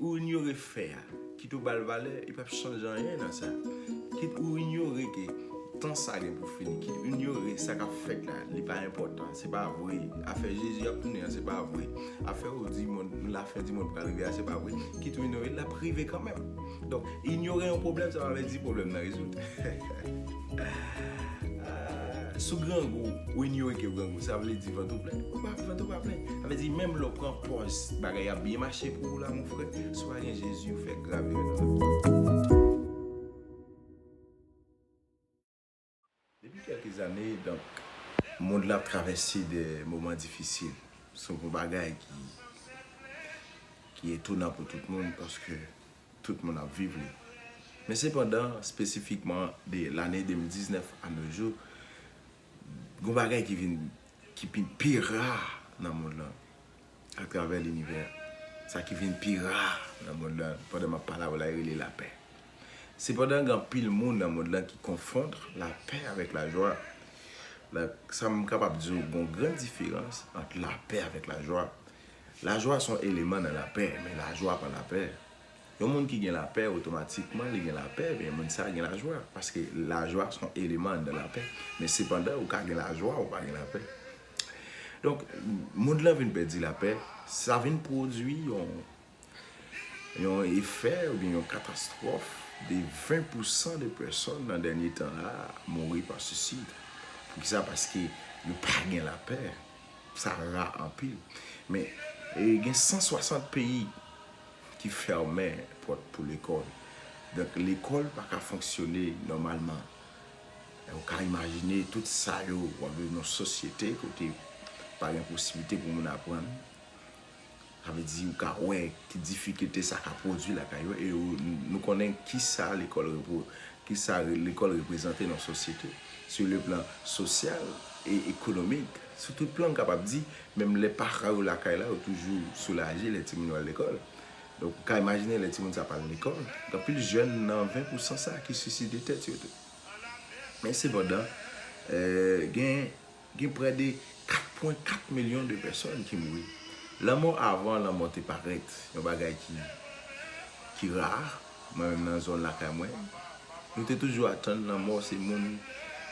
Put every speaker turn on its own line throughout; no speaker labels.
Ou inyore fè a, kit ou ba l valè, li pap chanje anyen nan sa. Kit ou inyore ke tan sa gen pou fini, kit ou inyore sa k ap fèt la, li pa enpòtan, se pa vre. Afè Jezi ap tounen an, se pa vre. Afè ou di monn, lafen di monn pral rive a, se pa vre. Kit ou inyore l, l ap rive kanmenm. Donk, inyore yon pwoblèm, sa pa vle di pwoblèm nan rezoud. Sou grangou, when you wake up grangou, sa vle di vant ou plen. Ou pa, vant ou pa plen. Sa vle di menm lè ou pran pòz, bagay ap byen mache pou ou la mon frè, si ou pa gen Jezi ou fè grave erè nan lavi. Depi kèlke zane, donk, mond la ap travèse de moman difisil. Se yon bagay ki etonan pou tout moun paske. tout moun ap viv li. Men sepandan, spesifikman de lane 2019 a no jou, gon bagay ki vin ki pi pi ra nan mond lan a travè linivè. Sa ki vin pi ra nan mond lan pandan m ap pale avè w la yo rele lapè. Sepandan gen anpil moun nan mond lan ki konfondre lapè avèk lajwa. Sa m kapab di w gon gran diferans ant lapè avèk lajwa. Lajwa son eleman nan lapè, men lajwa pa lapè. Yon moun ki gen lapè otomatikman li gen lapè ebyen moun sa gen lajwa paske lajwa son eleman anndan lapè men sepandan ou ka gen lajwa ou pa gen lapè. Donk moun lan vin pèdi lapè sa vin pwodui yon yon efè oubyen yon katastwòf de 20 pou 100 de pèsòn nan dènye tan la mouri pa sisid. Poukisa paske yo pa gen lapè. Sa ra anpil. Men, gen 160 peyi ki fèmen pòt pou lekòl. Donk, lekòl pa ka fonksyone nòmalman. E ou ka imajine tout sa yo w ap viv nan yon sosyete kote pa gen posiblite pou moun aprann. Sa vle di ou ka wè ki difikilte sa ka pwodui lakay yo e nou konnen kisa lekòl reprezante nan sosyete sou le plan sosyal e ekonomik, sou tout plan m kapab di, menm lè paran yo lakay la yo toujou soulaje lè timoun yo al lekòl. Donk ou ka imajine lè timoun sa pa al lekòl, gen anpil jèn nan 20 pou san sa ki siside tèt yo tou. Men sepandan, gen. Gen prè de 4 pwen 4 milyon de pèsòn ki mouri. Lanmò avan lanmò te parèt yon bagay ki ki ra, mwen menm nan zòn lakay mwen, nou te toujou atann lanmò se moun,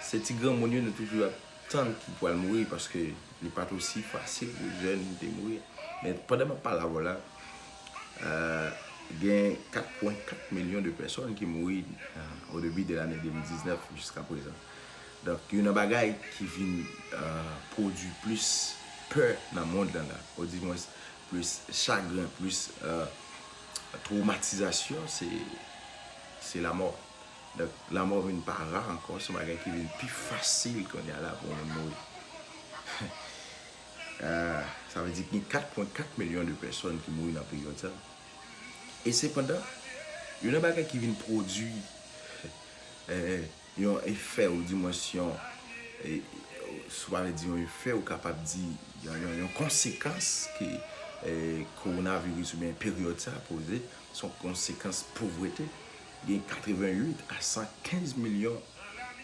se ti granmoun yo nou toujou ap tann ki pral mouri paske li pa t osi fasil pou jèn te mouri. Men pandan m ap pale avè w la, gen 4 pwen 4 milyon de pèsòn ki mouri o debi de lane 2019 jiska prezan. Donk youn nan bagay ki vin pwodui plis pè nan mond lan la, odimwens plis chagren, plis twomatizasyon se lamò. Donk lamò vin pa ra ankò, se yon bagay ki vin pi fasil kounye a la pou yon moun mouri. Sa vle di gen 4.4 milyon de pèsòn ki mouri nan peryòd sa. E sepandan, youn nan bagay ki vin pwodui. Yon efè ou dimwens yon, si w pa vle di yon efè, ou kapab di yon konsekans ke kowonaviris oubyen peryòd sa poze, se yon konsekans povrete. Gen 88 a 115 milyon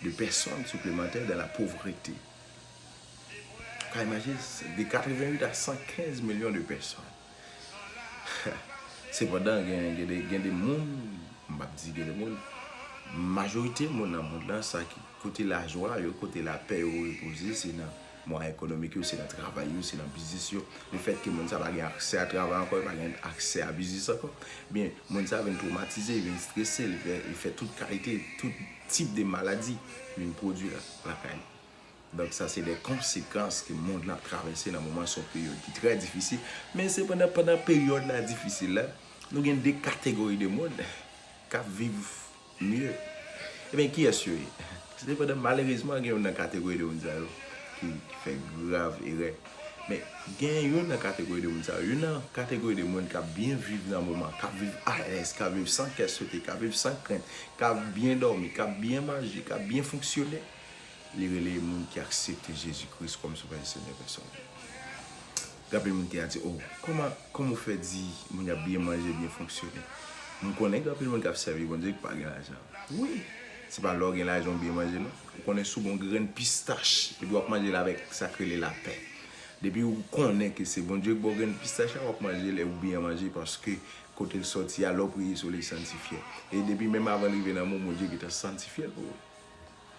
de pèsòn siplemantè dan la povrete. Ou ka imajine, de 88 a 115 milyon de pèsòn. Sepandan gen de moun, m pap di gen de moun, majorite moun nan mond lan sa ki kote lajwa yo, kote lapè yo repoze se nan mwa ekonomik yo, se nan travay yo, se nan biznis yo. Le fèt ke moun sa pa gen aksè a travay ankò, pa gen aksè a biznis ankò, ebyen moun sa vin twomatize, li vin strese, li fè tout kalite, tout tip de maladi vin pwodui lakay li. Donk sa se de konsekans ke mond lan ap travèse nan moman sa, yon peryòd ki trè difisil. Men sepandan, pandan peryòd la difisil la, nou gen de kategori de moun k ap viv mye. Enben, kiyès yo ye? Sepandan, malerezman, gen youn nan kategori de moun sa yo ki fè grav erè. Men, gen youn nan kategori de moun sa yo, youn nan kategori de moun k ap byen viv nan moman, k ap viv alèz, k ap viv san kè sote, k ap viv san krent, k ap byen dòmi, k ap byen manje, k ap byen fonksyone. Li rele moun ki aksepte Jezi Kris kòm Sovè e Senyè pèsonèl yo. Ganpil moun te a di, O, kòman, kòman ou fè di moun y ap byen manje, byen fonksyone? M konnen gen anpil moun k ap sèvi Bondye ki pa gen lajan. Wi! Se pa lè w gen lajan ou byen manje non. Ou konnen sou bon grenn pistach, epi w ap manje l avèk sa k rele lapè. Depi ou konnen ke se Bondye k ba w grenn pistach la, w ap manje l e ou byen manje paske kote l sòti a, lè w priye sou li, li santifye. E depi menm avan l rive nan men w, Bondye gentan santifye l pou ou.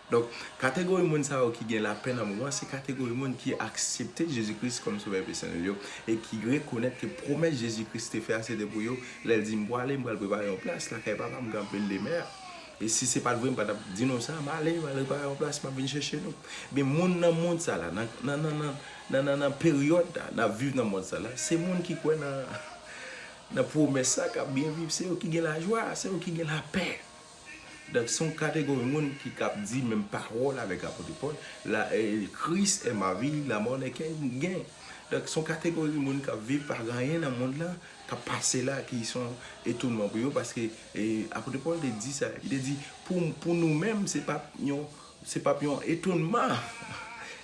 Donk, kategori moun sa yo ki gen lapè nan moman an, se kategori moun ki aksepte Jezi Kris kòm Sovè pèsonèl yo e ki rekonèt ke pwomès Jezi Kris te fè a se te pou yo lè l di, M pwale, m pral prepare yon plas lakay Papa m, m kanpe demen an. E si se pa t vre, m pa t ap di nou sa, m ale, m al prepare yon plas, m ap vin chèche nou. Ebyen, moun nan mond sa la, nan, nan, nan, nan, nan, nan, nan peryòd la, n ap viv nan mond sa la, se moun ki kwè nan, nan pwomès sa k ap byen viv. Se yo ki gen lajwa, se yo ki gen lapè. Donk se yon kategori moun ki kab di menm pawòl avèk Apote Pòl, la Kris è ma vi, la mò nè ken gen. Donk se yon kategori moun k ap viv pa gen anyen nan mond lan k ap pase la ki se yon etonman pou yo paske Apote Pòl te di sa, li te di pou nou menm se pa p yon etonman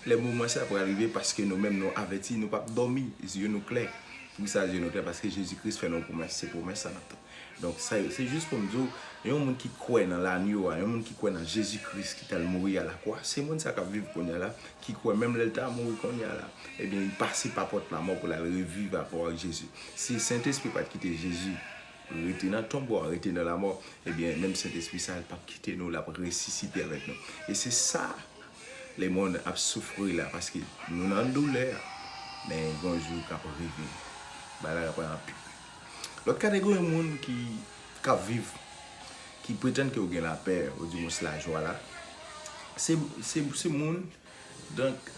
lè moman sa pral rive paske nou menm nou avèti, nou p ap dòmi, zye nou klè. Poukisa zye nou klè? Paske Jezi Kris fè nou yon pwomès, se pwomès sa n ap tann. Donk, sa yo, se jis pou m di w, yon moun ki kwè nan lanyo a, yon moun ki kwè nan Jezi Kris ki t al mouri alakwa, se moun sa k ap viv kounye a la, ki kwè menm lè l ta mouri kounye a la, ebyen li pase pa pòt lamò pou l al reviv apre ak Jezi. Si Sentespri pa t kite Jezi rete nan tonbo a, rete nan lamò, ebyen menm Sentespri sa a l p ap kite nou, l ap resisite avèk nou. E se sa lemonn ap soufri la, paske nou nan doulè, men gen yon jou k ap rive, bagay la pral anpil. Lòt kategori moun ki k ap viv, ki pretann ke yo gen lapè, odimwens lajwa la, se moun donk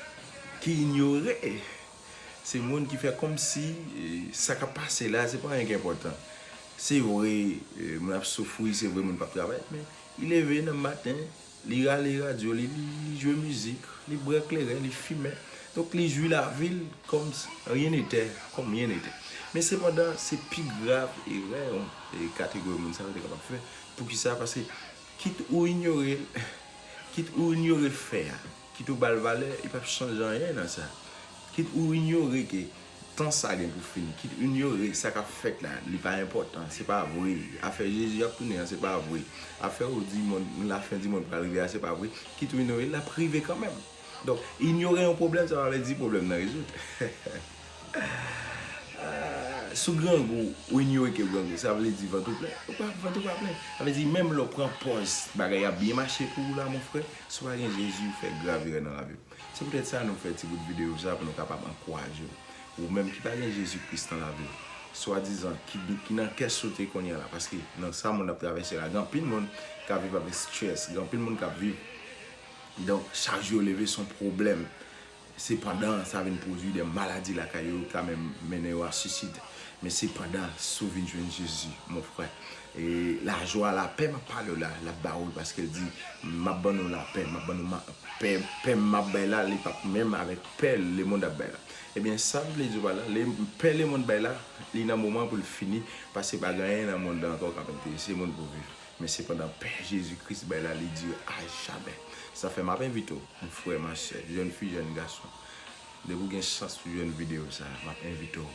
ki inyore, se moun ki fè kòmsi sa k ap pase la se pa anyen ki enpòtan. Se vre moun ap soufri, se vre moun pa ap travay men, i leve nan maten Li rale radyo li, li jwe mizik, li bwè kleren, li fimen. Donk li jwi lavi l kòm si anyen netè, kòm anyen netè. Men sepandan, se pi grav erè yon kategori moun sa yo te kapab fè. Poukisa? Paske kit ou inyore l, kit ou inyore fè a. Kit ou ba l valè, li pap chanje anyen nan sa. Kit ou inyore ke tan sa gen pou fini, kit ou inyore sa k ap fèt la, li pa enpòtan, se pa vre. Afè Jezi ap tounen an, se pa vre. Afè ou di monn, lafendimonn pral rive a, se pa vre. Kit ou inyore l, l ap rive kanmenm. Donk, inyore yon pwoblèm, sa pa vle di pwoblèm nan rezoud. Si w grangou, ou inyore ke w grangou, sa vle di vant ou plen? Vant ou pa plen. Sa vle di menm lè w pran pòz bagay ap byen mache pou ou la, monfrè, Si w pa gen Jezi, ou fè grav erè nan lavi w. Se poutèt sa nou fè ti bout videyo sa pou nou kapab ankouraje w. Ou menm ki pa gen Jezi Kris nan lavi w, swadizan ki nan kès ou te kounye a la, paske nan sa moun nan ap travèse la, gen anpil moun k ap viv avèk stress, gen anpil moun k ap viv, donk chak jou yo leve se yon pwoblèm. Sepandan, sa vin pwodui de maladi lakay yo, ka menm mennen yo a suisid. Men sepandan, si w vin jwenn Jezi, mon frè, e lajwa, lapè m ap pale w la, l ap ba ou l, paske l di, m ap ban nou lapè, m ap ban nou ma, pè, pè m m ap bay la, li p ap menm avèk pè lemonn ap bay la. Ebyen, sa m vle di w pa la, le, pè lemonn bay la, li nan moman pou l fini, paske pa gen anyen nan monn nan ankò k ap enterese moun pou viv. Men sepandan pè Jezi Kris bay la li dire a jamè. Sa fè map envite w m frè ma sè, jèn fi jèn gason depi w gen chans pou jwenn videyo sa map envite w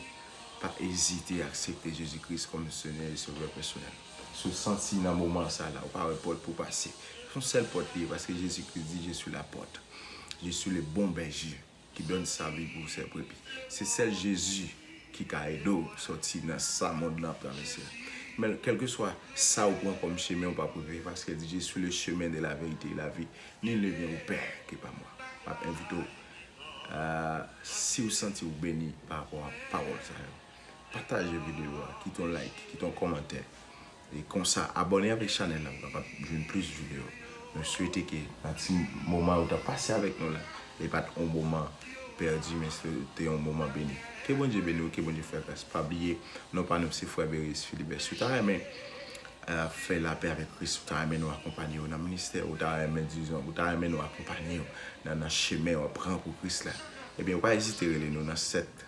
pa ezite aksepte Jezi Kris kòm senyè e sovè pèsonèl. Si w santi nan moman sa la ou pa wè pòt pou w pase, son sèl pòt li ye paske Jezi Kris di je suis la porte, je suis le bon berger. ki donne sa vi pou se brepi se sèl Jezi ki ka ede w sòti nan sa mond lan ap travèse a men kelke swa sa ou pran kòm chemen ou pap regrèt paske l di je suis le chemin de la vérité et la vie nul ne vient au père que par moi map envite w si ou santi ou beni pa rapò a pawòl sa yo pataje videyo a kite yon like kite yon kòmantè. E konsa abone avek chanel la pou kapab jwenn plis video. Mwen swete ke nan ti moman yo tap pase avek nou la li pat yon moman pèdi men se te yon moman beni. Ke Bondye beni w ke Bondye fè gras. Pa bliye non pa nou se frè Berius Philibert. Si w ta renmen fè lapè avek Kris, si w ta renmen nou akonpanye w nan ministè, ou ta renmen dizon, ou ta renmen nou akonpanye w nan chemen wap pran pou Kris la, ebyen ou pa ezite rele nou nan 7.